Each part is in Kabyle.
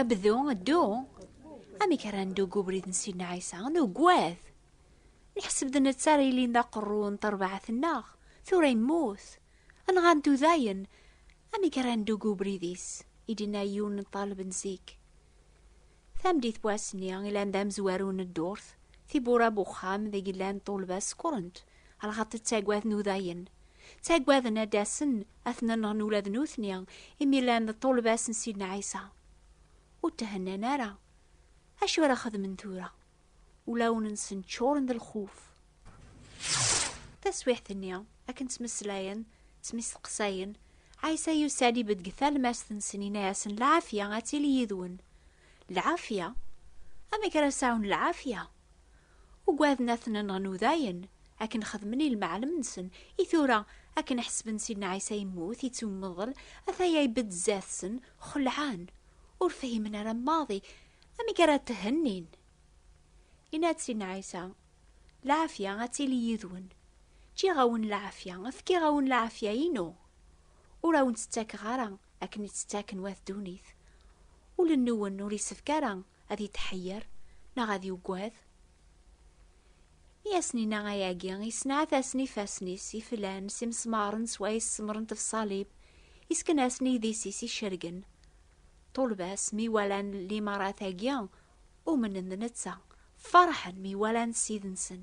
Abdu, ddu. Amek ara neddu deg ubrid n Sidna Ɛisa? Nugwat. Neḥseb d netta ara yilin d aqerru n terbaɛt-nneɣ. Tura yemmut. Anɣa neddu dayen. Amek ara neddu deg ubrid-is? I d-yenna yiwen n ṭṭaleb n zik. Tameddit n wass-nni, ilan d amezwaru n ddurt, tiwwura n uxxam deg i llan ṭṭulba sekkṛent, lɣaṭ ttaggaden udayen. Ttaggaden ad d-asen ad ten-nɣen ula d nutni, imi llan d ṭṭulba-s n Sidna Ɛisa. Ur thennan ara. Acu ara xedmen tura? Ulawen-nsen ččuren d lxuf. Taswiɛt-nni, akken ttmeslayen, ttmisteqsayen, Ɛisa yusa-d ibedd deg talmast-nsen, yenna-yasen, Lɛafya ad tili yid-wen. Lɛafya? Amek ara sɛun lɛafya? Ugaden ad ten-nɣen udayen, akken xedmen i lmeɛlem-nsen. I tura, akken ḥesben Sidna Ɛisa yemmut, yettummeḍl, ataya ibedd zdat-sen, xelɛen. Ur fhimen ara maḍi amek ara t-hennin. Yenna-d Sidna Ɛisa, Lɛafya ad tili yid-wen. Ǧǧiɣ-awen lɛafya, fkiɣ-awen lɛafya-inu. Ur awen-tt-ttakeɣ ara akken i tt-ttaken wat ddunit. Ul-nwen ur isefk ara ad yetḥeyyeṛ neɣ ad yuggad? Mi asen-inna ayagi, yessenɛat-asen ifassen-is iflan s imesmaṛen s wayes semṛent lṣalib, yesken-asen idis-is icergen. Ṭulbas mi walan limaṛat-agi, umnen d netta, ferḥen mi walan Ssid-nsen.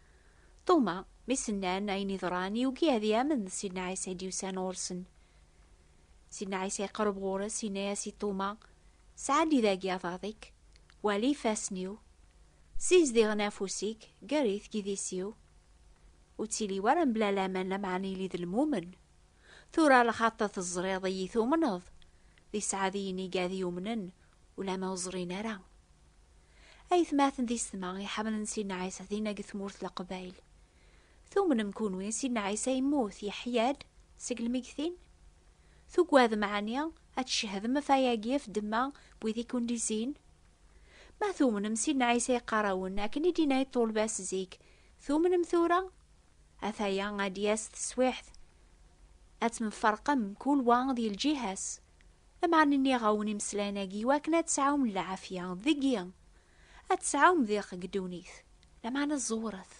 Ṭuma, mi s-nnan ayen iḍran, yugi ad yamen d Sidna Ɛisa i d-yusan ɣur-sen. Sidna Ɛisa iqerreb ɣur-s, yenna-as i Ṭuma, Sɛeddi dagi aḍad-ik, wali ifassen-iw, ssizdiɣen afus-ik, gerrit deg idis-iw. Ur ttili wara mebla laman lameɛna ili d lmumen. Tura lxaṭ teẓriḍ-iyi tumneḍ, d isɛadiyen iga ad yumnen, Ulama ur ẓrin ara. Aytmaten di setma iḥamlen Sidna Ɛisa dinna deg tmurt Leqbayel. Tumnem kunwi Sidna Ɛisa yemmut, yeḥya-d, seg lmegtin? Tugadem ɛni ad tcehdem ɣef ayagi ɣef ddemma n wid i kent-izin? Ma tumnem Sidna Ɛisa yeqqar-awen akken i d-yenna i ṭṭulba-s zik, tumnem tura? Ataya ad d-yas teswiɛt, ad temferqem, kul wa di lǧiha-s. Lameɛna nniɣ-awen imeslayen-agi i wakken ad tesɛum lɛafya deg-i, ad tesɛum diq deg ddunit, lameɛna ẓewret,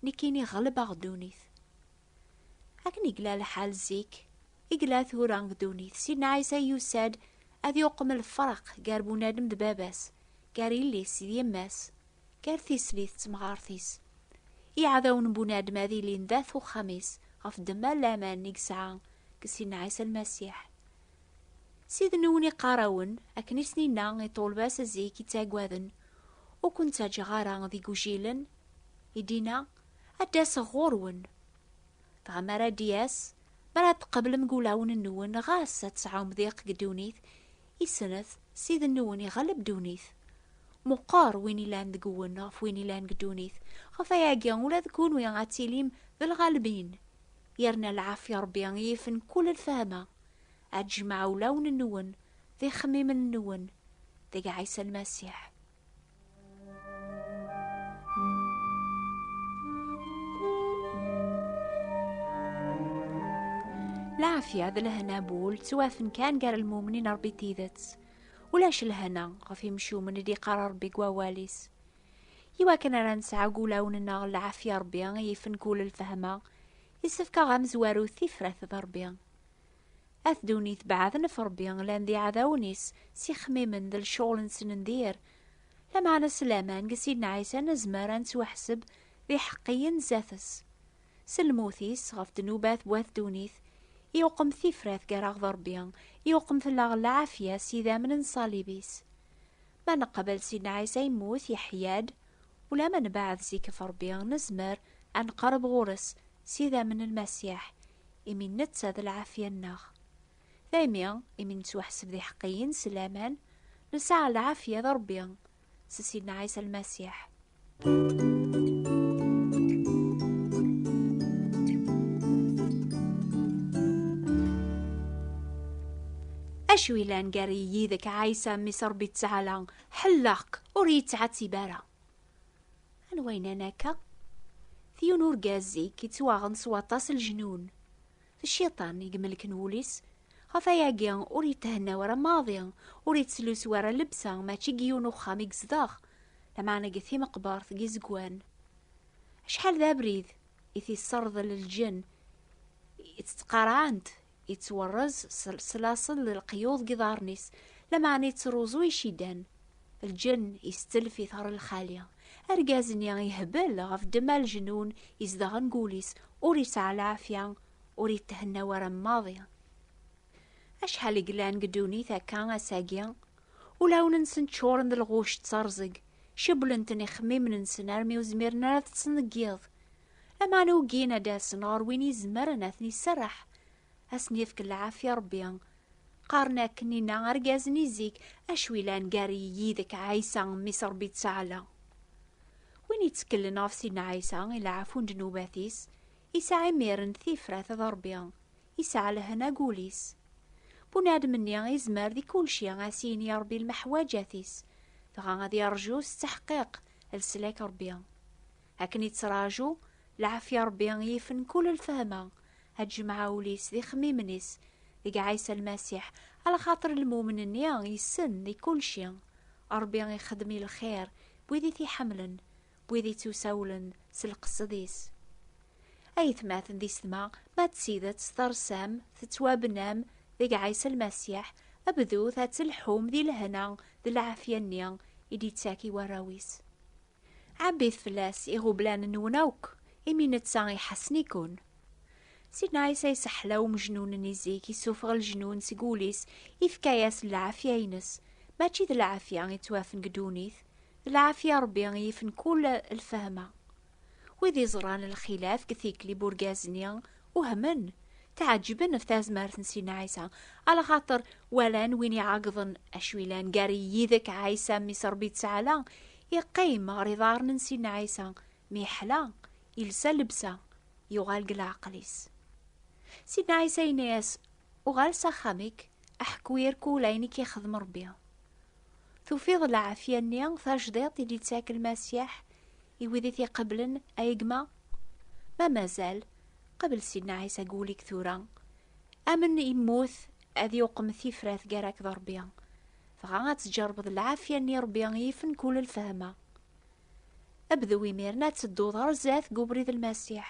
nekkini ɣelbeɣ ddunit. Akken i yella lḥal zik, i yella tura deg ddunit, Sidna Ɛisa yusa-d ad yuqem lferq gar bunadem d baba-s, gar yelli-s d yemma-s. Gar tislit d temɣart-is. Iɛdawen n bunadem ad ilin d at uxxam-is ɣef ddemma n laman i yesɛa deg Sidna Ɛisa Lmasiḥ. Siden-nwen iqqar-awen, akken i sen-inna i ṭṭulba-s zik ittaggaden, Ur ken-ttaǧǧaɣ ara d igujilen, i d-inna, Ad d-aseɣ ɣur-wen. Dɣa mi ara d-yas, mi ara tqeblem deg wulawen-nwen, ɣas ad tesɛum diq deg ddunit, Isret, Ssid-nwen iɣalleb ddunit. Meqqer win ilan deg-wen ɣef win ilan deg ddunit. Ɣef wayagi, ula d kunwi ad tilim d lɣalbin. Yerna lɛafya Rebbi yifen kul lfehma. Ad jemɛeɣ ulawen-nwen d ixemmimen-nwen deg Ɛisa Lmasiḥ. Laɛafya d lehna bu ul ttwafen kan gar lmumnin Ṛebbi d tidet. Ulac lehna ɣef imcumen i d-iqqar Ṛebbi deg wawal-is. Iwakken ara nesɛu deg wulawen-nneɣ laɛafya Ṛebbi i yifen kul lfehma, yessefk-aɣ amezwaru tifrat d Ṛebbi. At ddunit beɛden ɣef Ṛebbi, llan d iɛdawen-is, s ixemmimen d lecɣel-nsen n dir. Lameɛna s laman deg Sidna Ɛisa nezmer ad nettwaḥseb d iḥeqqiyen zdat-s. S lmut-is ɣef ddnubat n wat ddunit, iqem tifrat gar-aɣ d Ṛebbi, iqem fell-aɣ lɛafya s idammen n ṣṣalib-is. Ma neqbel Sidna Ɛisa yemmut, yeḥya-d, ulamma nebeɛɛed zik ɣef Ṛebbi, nezmer ad neqreb ɣur-s s idammen n Lmasiḥ, imi netta d lɛafya-nneɣ. Daymi, imi nettwaḥseb d iḥeqqiyen s laman, nesɛa lɛafya d Ṛebbi s Sidna Ɛisa Lmasiḥ. Acu yellan gar yid-k, Ɛisa, mmi-s Ṛebbi Ttɛala, ḥelleɣ-k, ur yi-ttɛettib ara. Anwa yennan akka? D yiwen urgaz i yettwaɣen s waṭas lejnun. D cciṭan i imelken wul-is. Ɣef ayagi ur yethenna ara maḍi, ur yettlusu ara llebsa, mačči deg yiwen uxxam i yezdeɣ, lameɛna deg timeqbert deg izegwan. Acḥal d abrid i t-yesserḍel lǧenn i tt-ttqarɛent, Yettwarrez s laṣel n leqyuḍ deg iḍarren-is, lameɛna yettruẓu icidan. Lǧenn yestelf-it ɣer lxali. Argaz-nni yehbel ɣef ddemma n lejnun izedɣen deg wul-is, ur yesɛi lɛafya, ur yethenna wara maḍi. Acḥal i yellan deg ddunit akka ass-agi, ulawen-nsen ččuren d lɣuct d terẓeg, cewwlen-ten ixemmimen-nsen armi ur zmiren ara ad ṭṭsen deg yiḍ. Aman ugin ad d-asen ɣer win izemren ad ten-iserreḥ, ad sen-yefk lɛafya Rebbi. Qqaren akken inna argaz-nni zik, acu ilan gar-i yid-k a Ɛisa, mmi-s Rebbi ttaɛla. Win itteklen ɣef Sidna Ɛisa i lɛafu n ddnubat-is, isɛa imiren tifrat ed Rebbi, isɛa lehna deg wul-is. Bunadem-nni izmer di kulci ad s-yini i Rebbi lmeḥwaǧat-is, dɣa ad yeṛju s tteḥqiq leslak Rebbi. Akken ittraǧu, lɛafya Ṛebbi i yifen kul lfehma, ad jemɛa ul-is d ixemmimen-is deg Ɛisa Lmasiḥ, alaxaṭer lmumen-nni yessen di kulci. Ṛebbi ixeddem i lxir n wid i t-iḥemmlen, n wid ittusawlen s lqesed-is. Aytmaten d isetma, ma d tidet tersam, tettwabnam deg Ɛisa Lmasiḥ, bdut ad telḥum di lehna d lɛafya-nni i d-ittak i warraw-is. Ɛebbit fell-as iɣublan-nwen akk, imi netta iḥassen-iken. Sidna Ɛisa iseḥla umejnun-nni zik, issufeɣ lejnun seg wul-is, ifka-as lɛafya-ines. Mačči d lɛafya i ttwafen deg ddunit, d lɛafya Ṛebbi i yifen kull lfehma. Wid iẓran lxilaf deg tikli n urgaz-nni Uhmen, tɛeǧǧben ɣef tazmert n Sidna Ɛisa, ala xaṭer walan win iɛeggḍen acu ilan gar yidek Ɛisa mmi s Rebbi Ţɛala, iqqim ɣer iḍarren n Sidna Ɛisa, mi yeḥla, ilsa llebsa, yuɣal deg leɛqel-is. Sidna Ɛisa yenna-yas, Uɣal s axxam-ik, aḥku irkul ayen i k-ixdem Rebbi. Tufiḍ lɛafya-nni tajdiṭ i d-yettak Lmasiḥ i wid i t-iqeblen, ay gma? Ma mazal, qbel Sidna Ɛisa deg wul-ik tura. Amen immut ad yuqem tifrat gar-ak d Ṛebbi. Dɣa ad tǧeṛbeḍ lɛafya-nni i Ṛebbi i yifen kul lfehma. Bdu imiren ad tedduḍ ɣer zdat deg ubrid Lmasiḥ.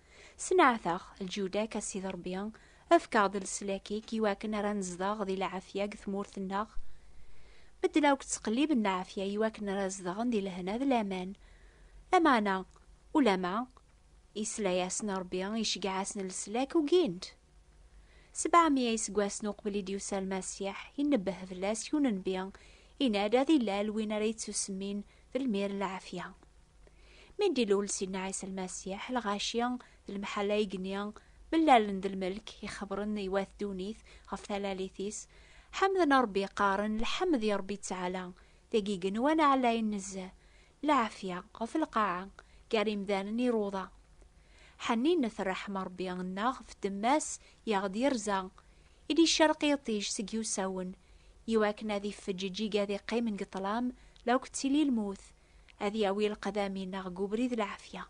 Sneɛteɣ, lǧudak a Sidi Ṛebbi, efk-aɣ-d leslak-ik i wakken ara nezdeɣ di lɛafya deg tmurt-nneɣ. Medden akk ttqelliben lɛafya i wakken ara zedɣen di lehna d laman. Lameɛna, ulamma, yesla-yasen Ṛebbi, iceggeɛ-asen leslak, ugin-t. Sebɛemya iseggasen uqbel i d-yusa Lmasiḥ, inebbeh fell-as yunenbi, yenna-d ad ilal win ara yettusemmin d lmir n lɛafya. Mi d-ilul Sidna Ɛisa Lmasiḥ, lɣaci d lemḥalla igenni mellalen d lmelk, ixebren i wat ddunit ɣef talalit-is, ḥemden Ṛebbi qqaren, Lḥemd i Ṛebbi ttɛala, d agigen wanaɛlayen nezzeh, lɛafya ɣef lqaɛa gar yimdanen iruḍa. Ḥenninet rreḥm n Rebbi nneɣ ɣef ddemma-s i aɣ-d-yerza, i d-icerq yiṭij seg yiwsawen, i wakken ad ifeǧǧ iǧig ad iqqimen deg ṭṭlam la k-ttili lmut, ad yawi leqdam-inneɣ deg ubrid lɛafya.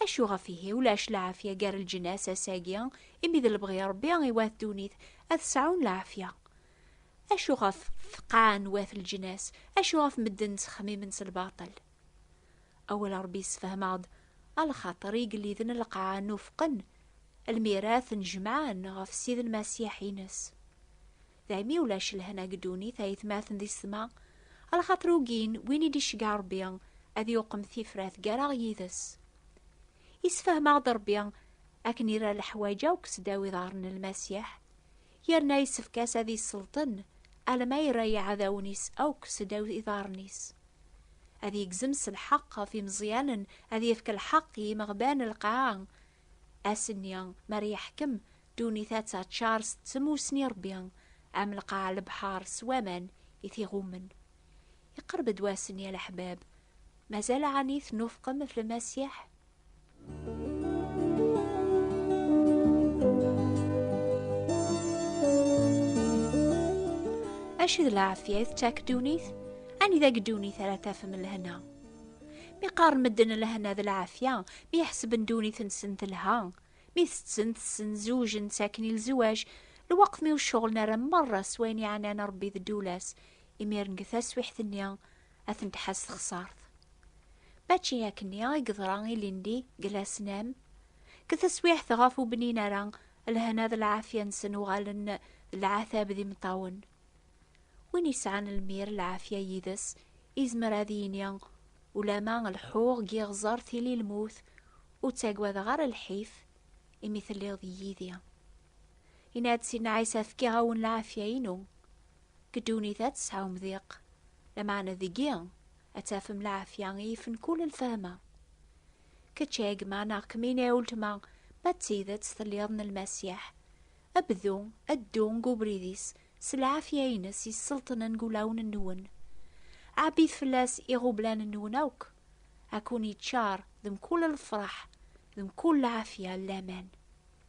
Acu ɣef ihi ulac lɛafya gar leǧnas ass-agi, imi d lebɣi n Rebbi i wat ddunit ad sɛun lɛafya? Acu ɣef tqaɛa n wat leǧnas? Acu ɣef medden ttxemmimen s lbaṭel? Awal n Ṛebbi yessefhem-aɣ-d a lxaṭer igelliden n lqaɛa nufqen almi ara ten-jemɛen ɣef Ssid Lmasiḥ-ines. Daymi ulac lehna deg ddunit ayetmaten di ssma, a lxaṭer ugin win i d-iceggeɛ Ṛebbi ad yuqem tifrat gar-aɣ yid-s. Yessefhem-aɣ-d Ṛebbi akken ira leḥwaǧ akk seddaw iḍarren n Lmasiḥ, yerna yessefk-as ad yesselṭen alma yerra iɛdawen-is akk seddaw iḍarren-is ad yegzem s lḥeqq ɣef imeẓyanen ad yefk lḥeqq i yimeɣban lqaɛa ass-nni mer yeḥkem ddunit ad taččar s tmussni rebbi am lqaɛa lebḥar s waman i t-iɣummen iqerb-d wass-nni a leḥbab mazal ɛni tnufqem ɣef lmasiḥ Acu d lɛafya i tettak ddunit? Anida deg ddunit ara tafem lehna? Mi qqaren medden lehna d lɛafya, mi ḥesben ddunit-nsen telha, mi tetten, tessen, zewjen, ttaken i lzewaj, lweqt mi ur ceɣlen ara merra s wayen iɛnan Rebbi d ddula-s, imiren deg taswiḥt-nni ad ten-tḥaz texsart. Mačči akkenni i yeḍra ilindi deg lasnam, deg teswiɛt ɣef ur bnin ara lehna d lɛafya-nsen uɣalen d lɛatab d imeṭṭawen. Win yesɛan lmir lɛafya yid-s izmer ad yini ulama lḥuɣ deg iɣẓer tili lmut ur ttagadeɣ ara lḥif imi telliḍ yid-i. Yenna-d Sidna Ɛisa fkiɣ-awen lɛafya-inu. Deg ddunit ad tesɛum diq, lameɛna deg-i ad tafem lɛafya i yifen kul lfehma. Kečč a gma neɣ kemmini a uletma, ma d tidet telliḍ n Lmasiḥ, bdu a ddu deg ubrid-is s lɛafya-ines yesselṭnen deg ulawen-nwen. Ɛebbit fell-as iɣublan-nwen akk, a kkun-iččar d mkul lefreḥ d mkul lɛafya n laman.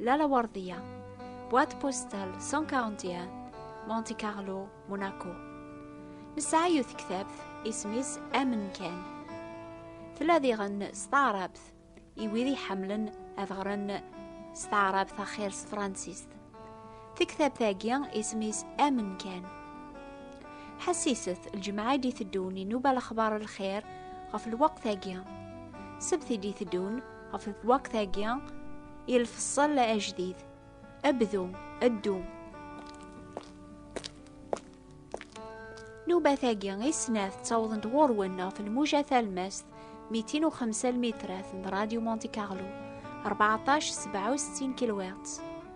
La Laguardia, boîte postale 141, Monte Carlo, Monaco. Nesɛa yiwet tektabt isem-is Amen kan. Tella diɣen s taɛrabt i wid iḥemmlen ad ɣren s taɛrabt axir s tefransist. Tiktabt-agi isem-is Amen kan. Ḥassiset lǧemɛa i d-iteddun inuba lexbar lxir ɣef lweqt-agi. Sebt i d-iteddun ɣef lwaqt-agi i lfeṣṣel ajdid abdu addu nubat-agi i snat ttawḍent ɣur-wen ɣef lmuja talmast 205 lmitrat n Radio Monte Carlo 14 67 kilwert